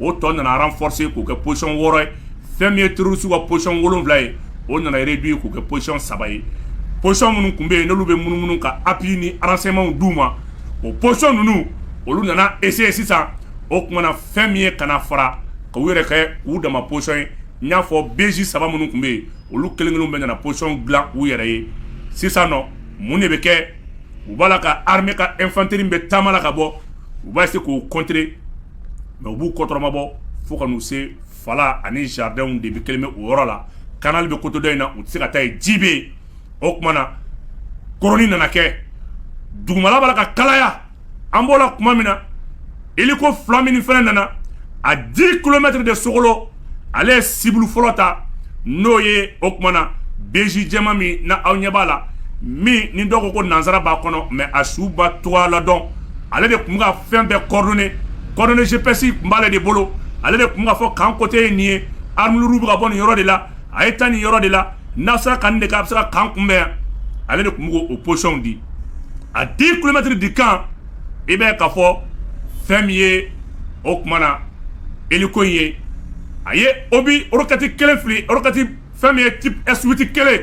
o tɔ nana renforcer k'o kɛ position wɔɔrɔ ye fɛn min ye terroriste ka position wolonwula ye o nana réduire k'o kɛ position saba ye position minnu tun bɛ yen n'olu bɛ munumunu ka appui ni renseignementw d' u ma o position ninnu olu nana essayer sisan o tuma na fɛn min ye ka fara ka u yɛrɛ kɛ u dama position ye n y'a fɔ beji saba minnu tun bɛ yen olu kelen kelen bɛɛ nana position dilan u yɛrɛ ye sisan nɔ mun de bɛ kɛ u b'a la ka armée ka infanterie bɛ taama la ka bɔ u b'a essayer k'o contrer mais u b'u kɔtɔrɔmabɔ fo ka n'u se fala ani jardinw de bɛ kelen bɛ o yɔrɔ la canal bɛ côté dɔ in na u tɛ se ka taa yen ji bɛ yen o tuma na koroni nana kɛ dugumala b'a la ka kalaya an b'o la tuma min na hélico fila min fana nana à dix kilomètres de sogolo ale ye cible fɔlɔ ta n'o ye o tuma na beji jɛman min na aw ɲɛ b'a la min ni dɔw ko ko nansara b'a kɔnɔ mais a suba to ladɔn ale de tun bɛ ka fɛn bɛɛ coordonner coordonnées GPS tun b'ale de bolo ale de tun bɛ k'a fɔ camp côté ye nin ye arme lourde bɛ ka bɔ nin yɔrɔ de la a ye taa nin yɔrɔ de la n'a sera ka nin de kɛ a bɛ se ka camp kunbɛn yan ale de tun bɛ k'o positionw di à dix kilomètres du camp i bɛ k'a fɔ fɛn min ye o tuma na hélico in ye a ye obus roquette kelen fili roquette fɛn min ye type s huit kelen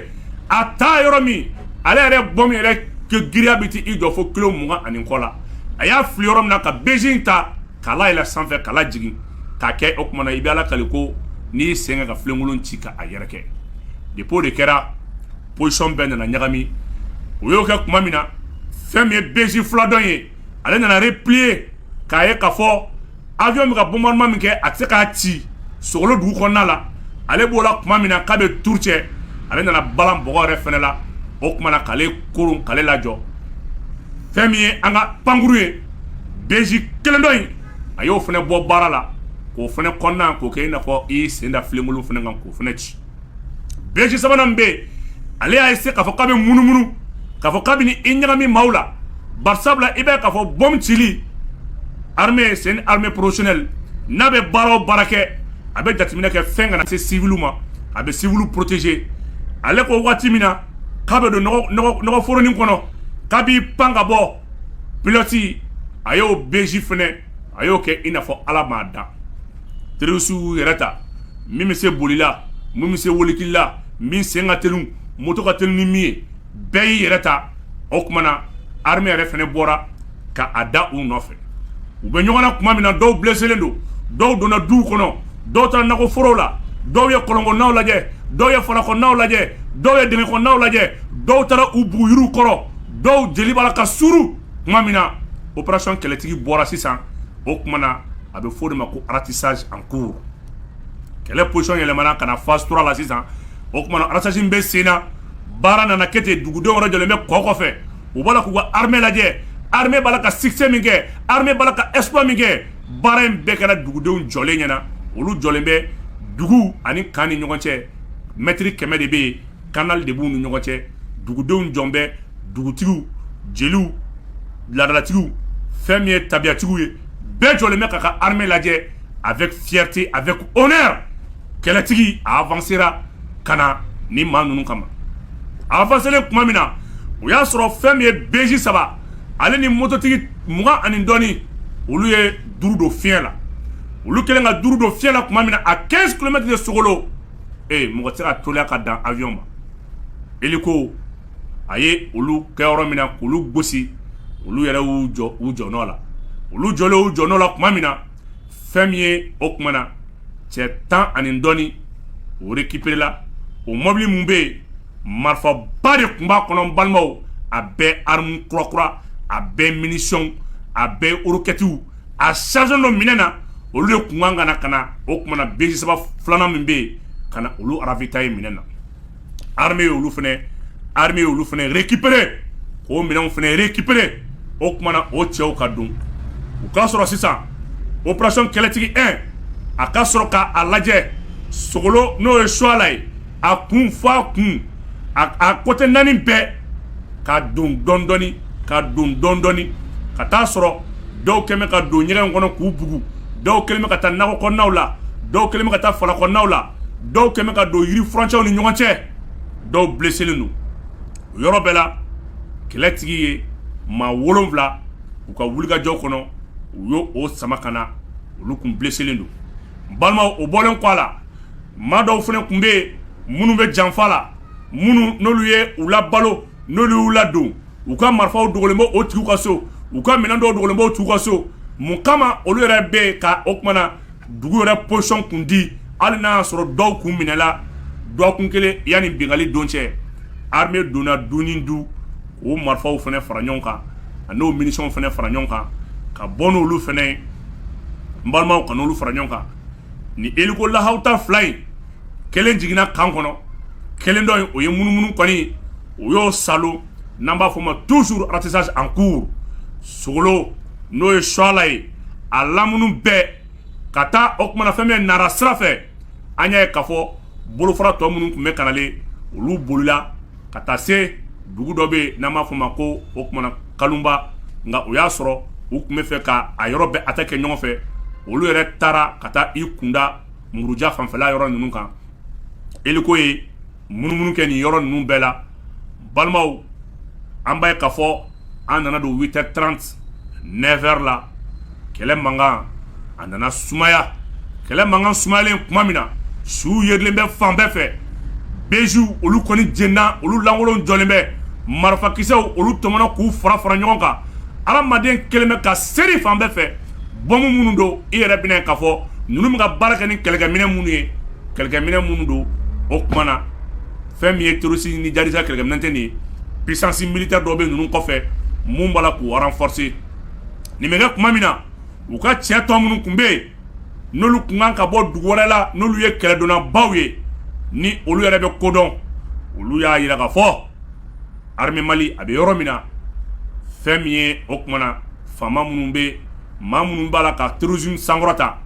a taa yɔrɔ min ale yɛrɛ bombe in yɛrɛ giriya bɛ t'i jɔ fo kilo mugan ani kɔ la a y'a fili yɔrɔ min na ka beji ta k'a layɛlɛ sanfɛ k'a lajigin k'a kɛ o tuma na i bɛ ala kali ko n'i y'i sen kɛ ka filenkolon ci ka a yɛrɛkɛ depuis o de kɛra position bɛɛ nana ɲagami o y'o kɛ tuma min na fɛn min ye beji fila dɔ in ye ale nana replier k'a ye k'a fɔ avion bɛ ka bombardement min kɛ a tɛ se k'a ci sogolo dugu kɔnɔna la ale b'o la tuma min na k'a bɛ tour cɛ ale nana balan bɔgɔ yɛrɛ fana la o tuma na k'ale koron k'ale lajɔ fɛn min ye an ka pankurun ye beji kelen dɔ in a y'o fana bɔ baara la k'o fana kɔnɔna k'o kɛ i n'a fɔ i sen da filenkolon fana kan k'o fana ci beji sabanan bɛ yen ale y'a essayer k'a fɔ k'a bɛ munumunu k'a fɔ k'a bɛ n'i ɲagami maaw la barisabula i bɛ k'a fɔ bombe cili armée c'est une armée professionnelle n'a bɛ baara o baara kɛ a bɛ jateminɛ kɛ fɛn kana se civil ma a bɛ civil protéger ale ko waati min na k'a bɛ don nɔgɔforonin kɔnɔ k'a b'i pan ka bɔ pilote a y'o beji fana a y'o kɛ i n'a fɔ ala m'a dan terorisiw yɛrɛ ta min bɛ se boli la min bɛ se wolikila min sen ka teli moto ka teli ni min ye bɛɛ y'i yɛrɛ ta o tuma na armée yɛrɛ fana bɔra ka a da u nɔfɛ u bɛ ɲɔgɔn na tuma min na dɔw blessélen don dɔw donna duw kɔnɔ dɔw taara nakɔforow la dɔw ye kɔlɔnkɔnɔnaw lajɛ dɔw ye falakɔnɔnaw lajɛ dɔw ye dingɛkɔnɔnaw lajɛ dɔw taara u bugu yiriw kɔrɔ dɔw jeli b'a la ka suru tuma min na opération kɛlɛtigi bɔra sisan o tuma na a bɛ fɔ o de ma ko ratissage en cours kɛlɛ position yɛlɛmana ka na phase trois la sisan o tuma na ratissage bɛ sen na baara nana kɛ ten dugudenw yɛrɛ jɔlen bɛ kɔ kɔfɛ u b'a la k'u ka armée lajɛ armée b'a la ka succès min kɛ armée b'a la ka exploit min kɛ baara in bɛɛ kɛra dugudenw jɔlen ɲɛna olu jɔlen bɛ dugu ani camp ni ɲɔgɔn cɛ mɛtiri kɛmɛ de bɛ yen canal de b'u ni ɲɔgɔn cɛ dugudenw jɔn bɛ dugutigiw jeliw laadalatigiw fɛn min ye tabiyatigiw ye bɛɛ jɔlen bɛ ka ka armée lajɛ avec fierté avec honneur kɛlɛtigi a avancera ka na ni maa ninnu kama a avancelen tuma min na o y'a sɔrɔ fɛn min ye BJ saba ale ni mototigi mugan ani dɔɔni olu ye duuru don fiɲɛ la olu kɛlen ka duuru don fiɲɛ la tuma min na à quinze kilomètres de sogolo ee mɔgɔ tɛ se ka teliya ka dan avion ma eliko a ye olu kɛ yɔrɔ min na k'olu gosi olu yɛrɛ y'u jɔ u jɔ nɔ la olu jɔlen u jɔ nɔ la tuma min na fɛn min ye o kuma na cɛ tan ani dɔɔnin o récupéréla o mɔbili min bɛ yen marifaba de tun b'a kɔnɔ balimaw a bɛɛ arme kurakura a bɛɛ munition a bɛɛ rokɛtiw a charge dɔ minɛna olu de kun kan ka na o kuma na BJ saba filanan min bɛ yen ka na olu ravitailler minɛn na armée ye olu fana armée ye olu fana récupérer k'o minɛnw fana récupérer o kuma na o cɛw ka don u ka sɔrɔ sisan opération kɛlɛtigi un a ka sɔrɔ k' a lajɛ sogolo n'o ye suwala ye a kun fo a kun a côté naani bɛɛ ka don dɔndɔɔni ka don dɔndɔɔni ka taa sɔrɔ dɔw kɛlen bɛ ka don ɲɛgɛn kɔnɔ k'u bugu dɔw kɛlen bɛ ka taa nakɔ kɔnɔnaw la dɔw kɛlen bɛ ka taa fala kɔnɔnaw la dɔw kɛlen bɛ ka don yiri furancɛw ni ɲɔgɔn cɛ dɔw blesselen don o yɔrɔ bɛɛ la kɛlɛtigi ye maa wolonwula u ka wulikajɔ kɔnɔ u y' o sama ka na olu tun blesselen don balimaw o bɔlen kɔ a la maa dɔw fana tun bɛ yen minnu bɛ janfa la minnu n'olu ye u labalo n'olu y'u ladon u ka marifaw dogolen bɛ o tigiw ka so u ka minɛn dɔw dogolen bɛ o tigiw ka so mun kama olu yɛrɛ bɛ yen ka o kuma na dugu yɛrɛ position kun di hali n'a y'a sɔrɔ dɔw kun minɛla dɔgɔkun kelen yanni bingali don cɛ armée donna du ni du k'o marifaw fana fara ɲɔgɔn kan a n'o munitions fana fara ɲɔgɔn kan ka bɔ n'olu fana ye n balimaw ka n'olu fara ɲɔgɔn kan ni eliko lahawuta fila in kelen jiginna kan kɔnɔ kelen dɔ in o ye munumunu kɔni o y'o saalo n'an b'a fɔ ma toujours ratissage en cours sogolo n'o ye suwala ye a lamunu bɛɛ ka taa o kuma na fɛn min nara sira fɛ an y'a ye k'a fɔ bolofara tɔ minnu tun bɛ kanalen olu bolila ka taa se dugu dɔ bɛ yen n'an b'a fɔ o ma ko o kuma na kalunba nka o y'a sɔrɔ u tun bɛ fɛ ka a yɔrɔ bɛɛ attaquer ɲɔgɔn fɛ olu yɛrɛ taara ka taa i kunda muruja fanfɛla yɔrɔ ninnu kan eliko ye munumunu kɛ nin yɔrɔ ninnu bɛɛ la balimaw an b'a ye k'a fɔ an nana don huit heures trente neuf heures la kɛlɛ mankan a nana sumaya kɛlɛ mankan sumayalen kuma min na suw yerilen bɛ fan bɛɛ fɛ bejiw olu kɔni jenina olu lankolon jɔlen bɛ marifakisɛw olu tɔmɔna k'u fara fara ɲɔgɔn kan adamaden kɛlen bɛ ka seri fan bɛɛ fɛ bɔnbu minnu don i yɛrɛ bɛn'a ye k'a fɔ ninnu bɛ ka baara kɛ ni kɛlɛkɛminɛ minnu ye kɛlɛkɛminɛ minnu don o kuma na fɛn min ye terroriste ni djihadiste ka kɛlɛkɛminɛn tɛ nin ye, puissance militaire dɔ bɛ ninnu kɔfɛ mun b'a la k'u renforcer nin bɛ kɛ kuma min na, u ka cɛ tɔ minnu kun bɛ yen, n'olu kun kan ka bɔ dugu wɛrɛ la, n'olu ye kɛlɛdonnabaw ye, ni olu yɛrɛ bɛ ko dɔn, olu y'a jira k'a fɔ armée Mali a bɛ yɔrɔ min na, fɛn min ye o kuma na faama minnu bɛ yen, maa minnu b'a la ka terrorisme sankɔrɔta,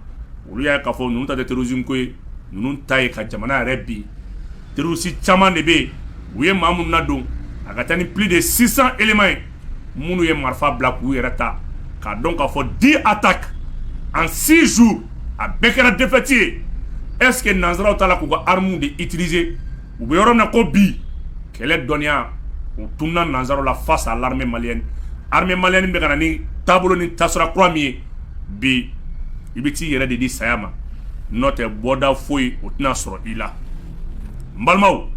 olu y'a ye k'a fɔ ninnu ta tɛ terrorisme ko ye. ninnu ta ye ka jamana yɛrɛ bin terroriste caman de bɛ yen u ye maa minnu nadon a ka taa ni plus de six cents éléments ye minnu ye marifa bila k'u yɛrɛ ta k'a dɔn k'a fɔ dix attaques en six jours a bɛɛ kɛra défaite ye est-ce que nansaraw t'a la k'u ka armes de utiliser U bɛ yɔrɔ min na ko bi kɛlɛ dɔnniya u tununna nansaraw la face à l'armée malienne armée malienne bɛ ka na ni taabolo ni tasira kura min ye bi i bɛ t'i yɛrɛ de di saya ma n'o tɛ bɔda foyi o tɛna sɔrɔ i la n balimaw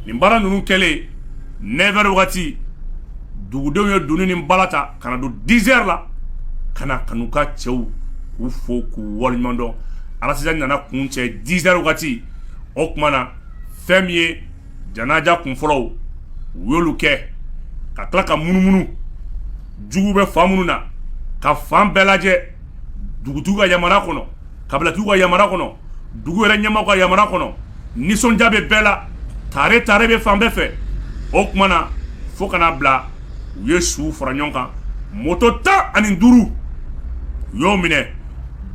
nin baara ninnu kɛlen neuf heures wagati dugudenw ye dunun ni bala ta ka na don dix heures la ka na ka n'u ka cɛw k'u fo k'u waleɲumandɔn alaz nana kuncɛ dix heures wagati o kuma na fɛn min ye janaja kunfɔlɔw u y'olu kɛ ka tila ka munumunu jugu bɛ fan minnu na ka fan bɛɛ lajɛ dugutigiw ka yamara kɔnɔ kabilatigiw ka yamara kɔnɔ dugu yɛrɛ ɲɛmaaw ka yamara kɔnɔ nisɔndiya bɛ bɛɛ la tare tare bɛ fan bɛɛ fɛ o kuma na fo ka na bila u ye suw fara ɲɔgɔn kan mɔto tan ani duuru u y'o minɛ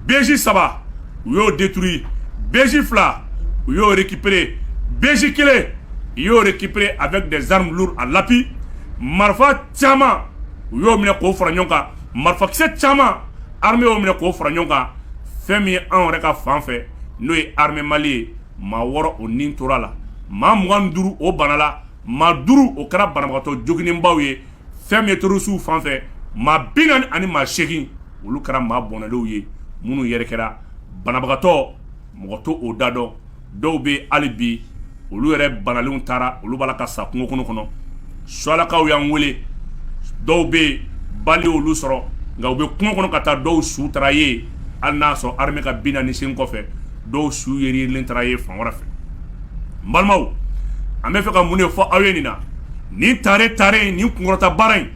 beji saba u y'o détruit beji fila u y'o récupérer beji kelen u y'o récupérer avec des armes lourdes à l'appui marifa caman u y'o minɛ k'o fara ɲɔgɔn kan marifakisɛ caman armée y'o minɛ k'o fara ɲɔgɔn kan fɛn min ye anw yɛrɛ ka fan fɛ n'o ye armée mali ye maa wɔɔrɔ o ni tora la maa mugan ni duuru o banala maa duuru o kɛra banabagatɔ joginnenbaw ye fɛn min ye terroristew fan fɛ maa bi naani ani maa segin olu kɛra maa bɔnɛlenw ye minnu yɛrɛ kɛra banabagatɔ mɔgɔ t'o da dɔn dɔw bɛ hali bi olu yɛrɛ banalenw taara olu b'a la ka sa kungo kɔnɔ kɔnɔ soalakaw y'an wele dɔw bɛ yen balle y'olu sɔrɔ nka u bɛ kungo kɔnɔ ka taa dɔw su taara yen hali n'a sɔrɔ armée ka bilan nin sen kɔfɛ dɔw su yerilen taara ye fan wɛrɛ fɛ n balimaw an bɛ fɛ ka mun de fɔ aw ye nin na nin tare tare nin kunkɔrɔta baara in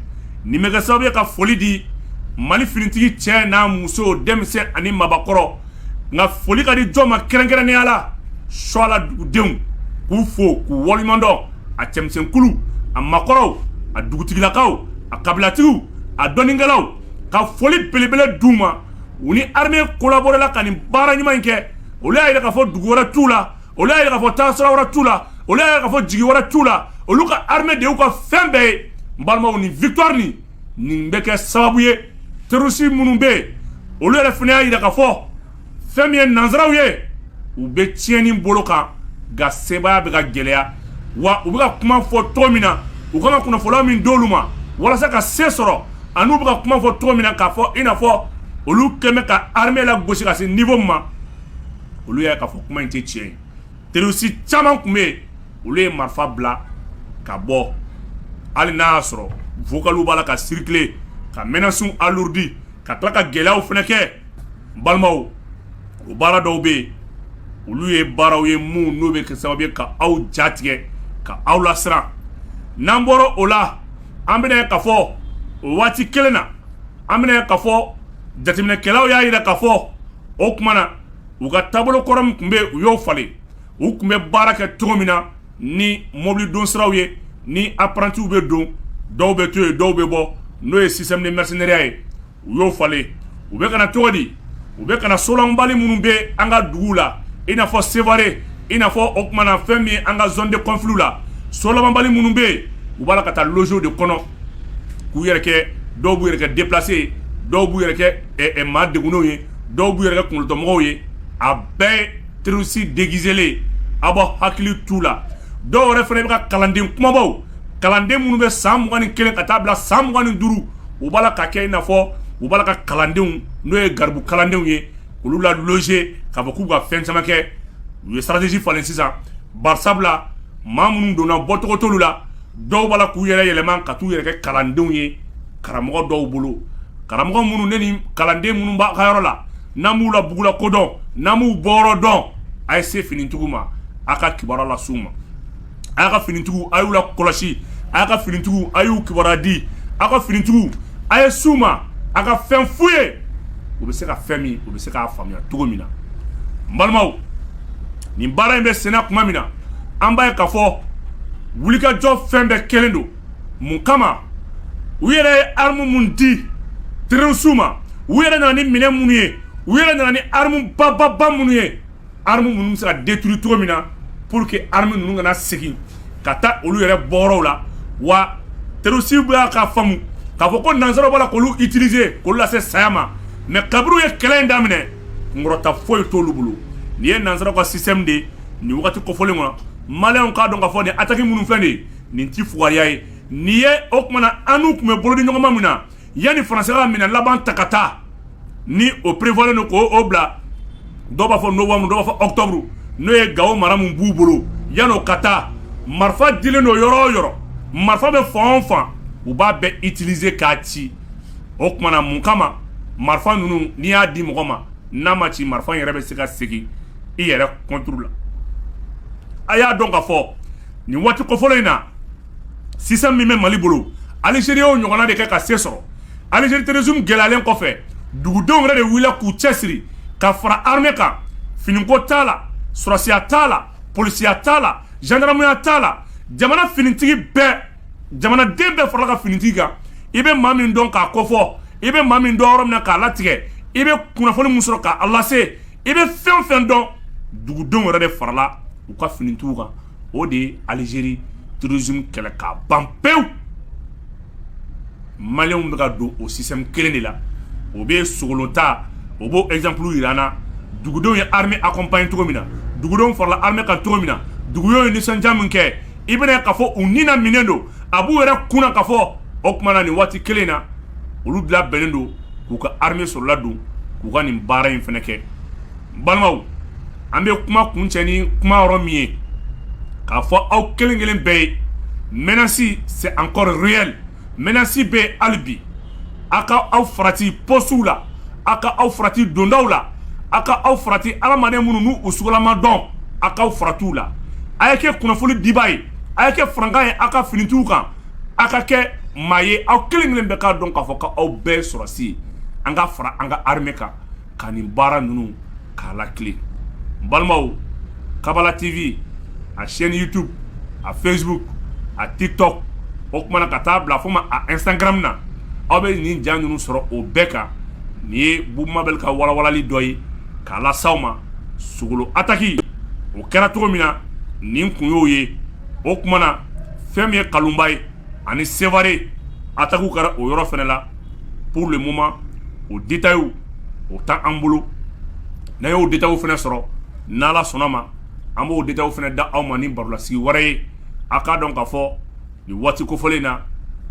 nin bɛ kɛ sababu ye ka foli di mali finitigi cɛ n'a muso denmisɛn ani mabakɔrɔ nka foli ka di jɔn ma kɛrɛnkɛrɛnnenya la suwala dugudenw k'u fo k'u waleɲumandɔn a cɛmisɛnkuluw a makɔrɔw a dugutigilakaw a kabilatigiw a dɔnikɛlaw ka foli belebele d' u ma u ni armée collaboré la ka nin baara ɲuman in kɛ olu y'a yira k'a fɔ dugu wɛrɛ t'u la olu y'a yira k'a fɔ taasira wɛrɛ t'u la olu y'a yira k'a fɔ jigi wɛrɛ t'u la olu ka armée de y'u ka fɛn bɛɛ ye n balimaw nin victoire nin nin bɛ kɛ sababu ye terroriste minnu bɛ yen olu yɛrɛ fana y'a yira k'a fɔ fɛn min ye nanzaraw ye u bɛ tiɲɛni bolo kan nka sebaaya bɛ ka gɛlɛya wa u bɛ ka kuma fɔ cogo min na u kan ka kunnafoni min d'olu ma walasa ka se sɔrɔ ani u bɛ ka kuma fɔ cogo min na k'a fɔ i n'a fɔ olu kɛlen bɛ ka armée lagosi ka se niveau min ma olu y'a k'a fɔ kuma in tɛ tiɲɛ ye terroriste caman tun bɛ yen olu ye marifa bila ka bɔ hali n'a y'a sɔrɔ vocaliw b'a la ka circuler ka menacew alourdi ka tila ka gɛlɛyaw fana kɛ balimaw o baara dɔw bɛ yen olu ye baaraw ye minnu n'o bɛ kɛ sababu ye ka aw jatigɛ ka aw lasiran n'an bɔra o la an bɛna ye k'a fɔ o waati kelen na an bɛna ye k'a fɔ jateminɛkɛlaw y'a yira k'a fɔ o tuma na u ka taabolo kɔrɔ min tun bɛ yen u y'o falen u tun bɛ baara kɛ cogo min na ni mobili don siraw ye ni apprentiw bɛ don dɔw bɛ to yen dɔw bɛ bɔ n'o ye système de mercenariat ye u y'o falen u bɛ ka na cogo di u bɛ ka na so labanbali minnu bɛ an ka dugu la i n'a fɔ sévaré i n'a fɔ o tuma na fɛn min ye an ka zone de conflit la so labanbali minnu bɛ yen u b'a la ka taa loger o de kɔnɔ k'u yɛrɛ kɛ dɔw b'u yɛrɛ kɛ déplacé dɔw b'u yɛrɛ kɛ maa degunnenw ye dɔw b'u yɛrɛ kɛ kunkolotɔmɔgɔw ye a bɛɛ terroriste déguisélen a b'aw hakili t'u la dɔw yɛrɛ fana bɛ ka kalanden kumabaw kalanden minnu bɛ san mugan ni kelen ka taa bila san mugan ni duuru u b'a la ka kɛ i n'a fɔ u b'a la ka kalandenw n'o ye garibu kalandenw ye olu la loger k'a fɔ k'u ka fɛn caman kɛ u ye stratégie falen sisan bari sabula maa minnu donna bɔcogo t'olu la dɔw b'a la k'u yɛrɛ yɛlɛma ka taa u yɛrɛ kɛ kalandenw ye karamɔgɔ dɔw bolo karamɔgɔ minnu ne ni kalanden minnu b'a ka yɔrɔ la n'a m'u la bugula ko dɔn n'a m'u bɔyɔrɔ dɔn a ye se finitigiw ma a ka kibaruya las'u ma a y'a ka finitigiw a y'u la kɔlɔsi a y'a ka finitigiw a y'u kibaruya di a ka finitigiw a ye s'u ma a ka fɛn f'u ye u bɛ se ka fɛn min u bɛ se k'a faamuya cogo min na n balimaw nin baara in bɛ senna tuma min na an b'a ye k'a fɔ wulikajɔ fɛn bɛɛ kɛlen don mun kama u yɛrɛ ye armu min di terrorisiw ma u yɛrɛ nana ni minɛn minnu ye u yɛrɛ nana ni armu bababa minnu ye armes minnu bɛ se ka détruire cogo min na pour que armes ninnu kana segin ka taa olu yɛrɛ bɔyɔrɔw la wa terroriste bɛ k'a faamu k'a fɔ ko nansaraw b'a la k'olu utiliser k'olu lase saya ma mais kabiri u ye kɛlɛ in daminɛ kunkɔrɔta foyi t'olu bolo nin ye nansaraw ka système de ye nin wagati kofɔlen kɔnɔ maliyɛnw k'a dɔn k'a fɔ nin attaque minnu filɛ nin ye nin ti fugariya ye nin ye o tuma na an n'u tun bɛ bolodiɲɔgɔnma min na yanni faransi ka minɛn laban ta ka taa ni o prévoirlen don ko o bila dɔw b'a fɔ novembre dɔw b'a fɔ octobre n'o ye gawo mara min b'u bolo yanni'o ka taa marifa dilen don yɔrɔ o yɔrɔ marifa bɛ fan o fan u b'a bɛɛ utiliser k'a ci o tuma na mun kama marifa ninnu n'i y'a di mɔgɔ ma n'a ma ci marifa yɛrɛ bɛ se ka segin i yɛrɛ contre la a y'a dɔn k'a fɔ nin waati kofɔlen in na Sisan min bɛ mali bolo alizeri y'o ɲɔgɔnna de kɛ ka se sɔrɔ alizeri terrorisme gɛlɛyalen kɔfɛ dugudenw yɛrɛ de wulila k'u cɛsiri ka fara armée kan finiko t'a la sɔrasiya t'a la polisiya t'a la zandaramuya t'a la jamana finitigi bɛɛ jamanaden bɛɛ farala ka finitigi kan i bɛ maa min dɔn k'a kofɔ i bɛ maa min dɔn yɔrɔ min na k'a latigɛ i bɛ kunnafoni min sɔrɔ k'a lase i bɛ fɛn fɛn dɔn dugudenw yɛrɛ de farala u ka finitigiw kan o de ye alizeri terrorisme kɛlɛ k'a ban pewu maliyɛnw bɛ ka don o système kelen de la o bɛ sogolo ta o b'o ezanpuru jira an na dugudenw ye armée accompagner cogo min na dugudenw farala armée kan cogo min na dugudenw ye nisɔndiya min kɛ i bɛna k'a fɔ u ni na minɛnen don a b'u yɛrɛ kun na k'a fɔ o tuma na nin waati kelen na olu bi labɛnnen don k'u ka armée sɔrɔla don k'u ka nin baara in fana kɛ balimaw an bɛ kuma kuncɛ ni kuma yɔrɔ min ye k'a fɔ aw kelen kelen bɛɛ ye menace c'est encore réel menace bɛ hali bi aw ka aw farati pɔsitiw la aw ka aw farati dondaw la aw ka aw farati adamaden minnu n'u sugulama don aw k'aw farati u la a ye kɛ kunnafoni dibaa ye a ye kɛ farankan ye aw ka finitigiw kan aw ka kɛ maa ye aw kelen kelen bɛɛ k'a dɔn k'a fɔ' aw bɛɛ sɔrasi ye an ka fara an ka armée kan ka nin baara ninnu k'a latilen n balimaw kabala tv a chaîne youtube a facebook a tiktok o kuma na ka taa bila fo ma a instagram na aw bɛ nin ja ninnu sɔrɔ o bɛɛ kan nin ye bubumabel ka walawalali dɔ ye k'a las'aw ma sogolo ataki o kɛra cogo min na nin kun y'o ye o kuma na fɛn min ye kalunba ye ani sevare atakiw kɛra o yɔrɔ fana la pour le moment o détails u o t'an bolo n'an y'o détails u fɛnɛ sɔrɔ n'Ala sɔnn'a ma an b'o détails u fɛnɛ da aw ma ni barolasigi wɛrɛ ye a' k'a dɔn k'a fɔ nin waati kofɔlen in na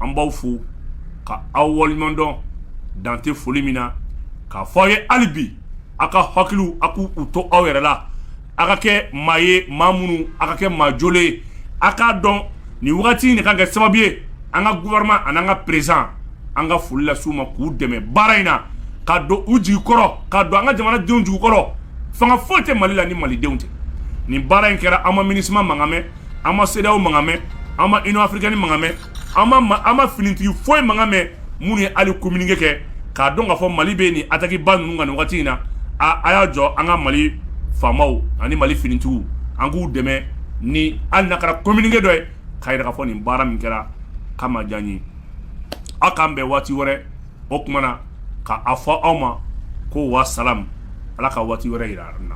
an b'aw fo ka aw waleɲumandɔn dan tɛ foli min na k'a fɔ aw ye hali bi a' ka hakiliw a' k'u to aw yɛrɛ la A ka kɛ maa ye maa minnu a ka kɛ maa jɔlen ye a k'a dɔn nin wagati nin ka kɛ sababu ye an ka gouvernement ani an ka président an ka foli las'u ma k'u dɛmɛ baara in na ka don u jigi kɔrɔ ka don an ka jamanadenw jigi kɔrɔ fanga foyi tɛ mali la ni malidenw tɛ nin baara in kɛra an ma MINUSMA mankan mɛn an ma CEDEAO mankan mɛn an ma Union africaine mankan mɛn an ma finitigi foyi mankan mɛn minnu ye hali kominike kɛ k'a dɔn k'a fɔ mali bɛ nin atakiba ninnu kan nin wagati in na aaa a y'a jɔ an ka mali faamaw ani mali finitigiw an k'u dɛmɛ ni hali n'a kɛra kominike dɔ ye k'a yira k'a fɔ nin baara min kɛra k'a ma diya n ye aw k'an bɛn waati wɛrɛ o kuma na k'a fɔ aw ma ko wa salam ala ka waati wɛrɛ yira an na